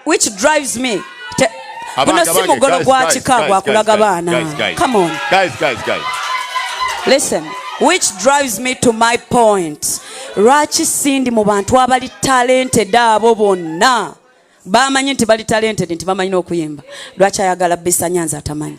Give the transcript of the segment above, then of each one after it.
which drives me guno si mugolo gwa kika gwakulaga baana come on guys guys guys listen which drives me to my point lwaki sindi mu bantu abali talented abo bonna bamanyi nti bali talented nti bamanyi n'okuyimba lwaki ayagala bisanyanza atamanyi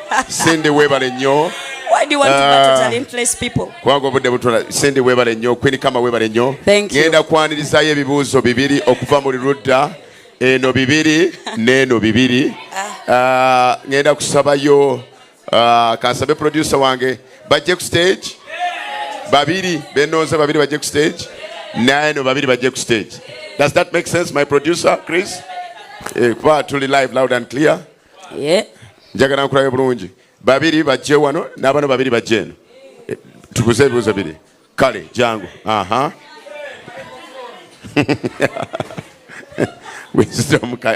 sindi webale nnyo kubanga obudde butula sindi webale nnyo kwini kama webale nnyo ngenda kwanirizayo ebibuuzo bibiri okuva mu lirudda eno bibiri neeno bibiri ah. Ah, ngenda kusabayo ah, kansabe producer wange bajje ku stage babiri benooza babiri bajje ku stage naeno babiri bajje ku stage does that make sense my producer chris eh, kuba tuli live loud and clear yeah. njagala nkulabe bulungi babiri bajje wano n'abana babiri bajje eno eh, tukuze ebibuuzo biri kale jangu aha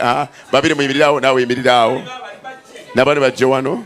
ah, babiri muyimiriraawo naawe yimiriraawo n'abana bajje wano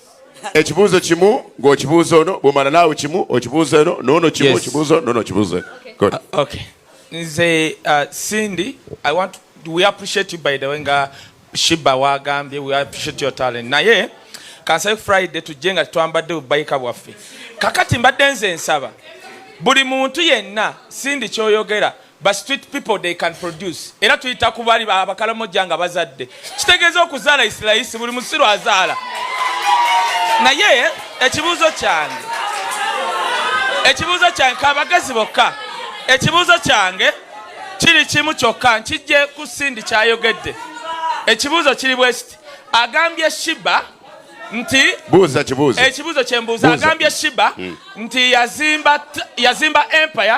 ekibuuzo kimu ng'okibuuza ono bwomala naawe kimu okibuuza eno noono kimu okibuuza ono noono kibuuza eno uh, nze uh, cindy i want we appreciate you by the way nga shiba wagambye we appreciate your talent naye kansabe friday tujje nga twambadde bubayika bwaffe kakati mbadde nze nsaba buli muntu yenna cindy kyoyogera ba street people they can produce era tuyita ku bali abakalamoja nga bazadde kitegeeza okuzaala isiraisi buli musiru azaala naye ekibuuzo kyange ekibuuzo kyange kabagezi bokka ekibuuzo kyange kiri kimu kyokka nkijje ku sindi kyayogedde ekibuuzo kiri bwekiti agambye shiba nti buuza kibuuzo ekibuuzo kyembuuza agambye shiba hmm. nti yazimba empire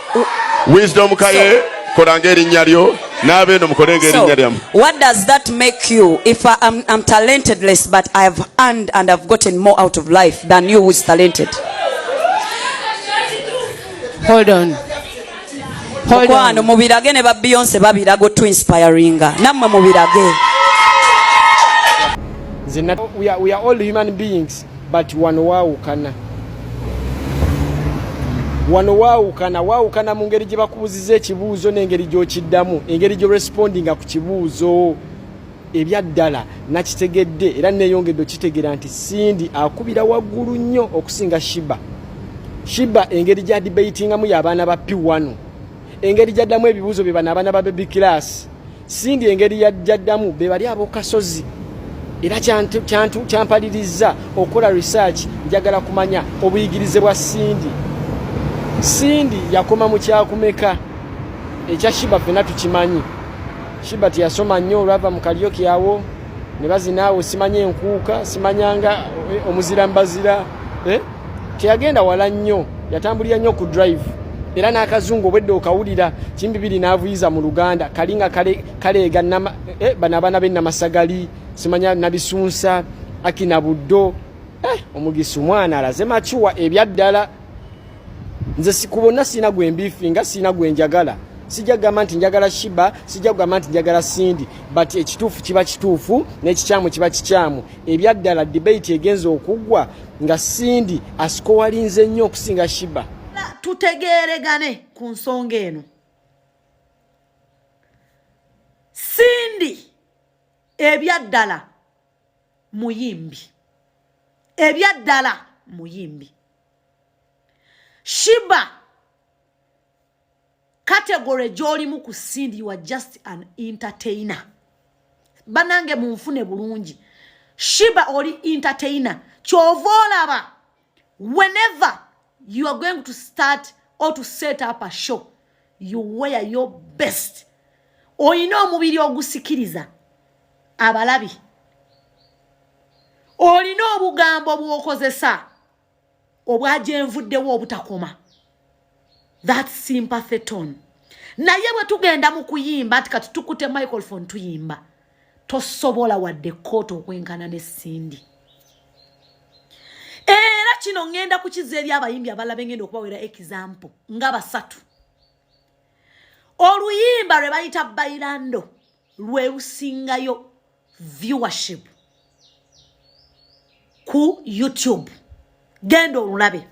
wisdom kaye kolanga erinnya lyo n'abeeno mukolenga erinnya lyamu what does that make you if I am, I'm talentedless but I have earned and I've gotten more out of life than you who is talented hold on mukwano mubirage ne ba beyonce babiraga otu inspiringa nammwe mubirage we are, we are all human beings but wano waawukana wano waawukana waawukana mu ngeri gye bakubuziza ekibuuzo n'engeri gy'okiddamu engeri gye respondinga ku kibuuzo ebyaddala nakitegedde era neeyongedde okitegeera nti sindi akubira waggulu nnyo okusinga shiba shiba engeri gya dibeitingamu y'abaana ba piwano engeri gyaddamu ebibuuzo bye bano abaana ba bebi kilaasi Cindy engeri yajjaddamu be bali abokasozi era kyampalirizza okukola research njagala kumanya obuyigirize bwa Cindy. Cindy yakoma mu kyakumeka ekya Shiba fena tukimanyi. Shiba tiyasoma nnyo olwava mu kaliyoki awo ne bazinaawo simanya enkuuka simanyanga eh, omuzira mbazira eh? teyagenda wala nnyo yatambulira nnyo ku drive era n'akazungu obwedde okawulira kimbibiri n'avuyiza mu luganda kali nga kaleega eh, bano abaana be namasagali simanya nabisunsa akina buddo eh, omugisa omwana alaze makiwa ebyaddala nze sikubona siina gwe mbifi nga siina gwe njagala sijja kugamba nti njagala shiba sijja kugamba nti njagala sindi but ekituufu kiba kituufu n'ekikyamu kiba kikyamu ebyaddala debate egenza okuggwa nga Cindy asikowalinze nnyo okusinga Shiba. Tutegeeregane ku nsonga eno. Cindy ebyaddala muyimbi. Ebyaddala muyimbi. Shiba category gyolimu ku cindy you are just an entertainer banange munfune bulungi shiba oli entertainer kyova olaba whenever you are going to start or to set up a show you wear your best olina omubiri ogusikiriza abalabi olina obugambo bwokozesa obwajenvuddewo obutakoma that sympathy tone naye bwe tugenda mu kuyimba nti kati tukute microphone tuyimba tosobola wadde kooti okwenkana ne sindi era kino ŋŋenda kukiza eri abayimbi abalala bengenda okubawera ekizampo nga basatu oluyimba lwe bayita bailando lwe lusingayo viewership ku youtube genda olulabe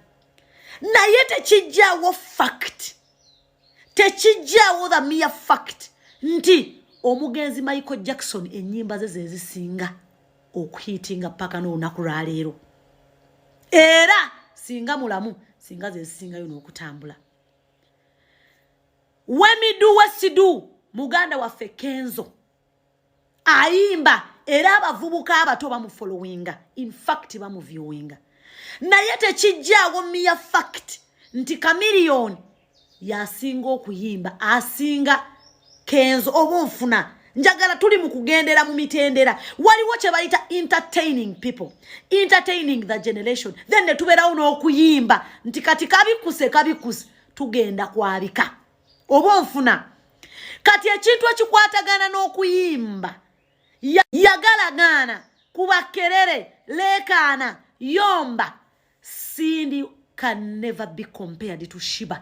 naye tekijjawo fact tekijjawo the mere fact nti omugenzi michael jackson enyimba ze zezisinga okuhitinga paka n'olunaku lwaleero era singa mulamu singa zezisingayo n'okutambula wemidu wesidu muganda waffe kenzo ayimba era abavubuka abato bamufolowinga infact bamuviewinga naye tekijjaawo miya fact nti kamiliyoni yasinga okuyimba asinga kenzo oba onfuna njagala tuli mu kugendera mu mitendera waliwo kye bayita entertaining people entertaining the generation then ne tubeerawo n'okuyimba nti kati kabikuse kabikuse tugenda kwabika oba onfuna kati ekintu ekikwatagana n'okuyimba yagalagaana kuba kerere leekaana yomba sindi can never be compared to shiba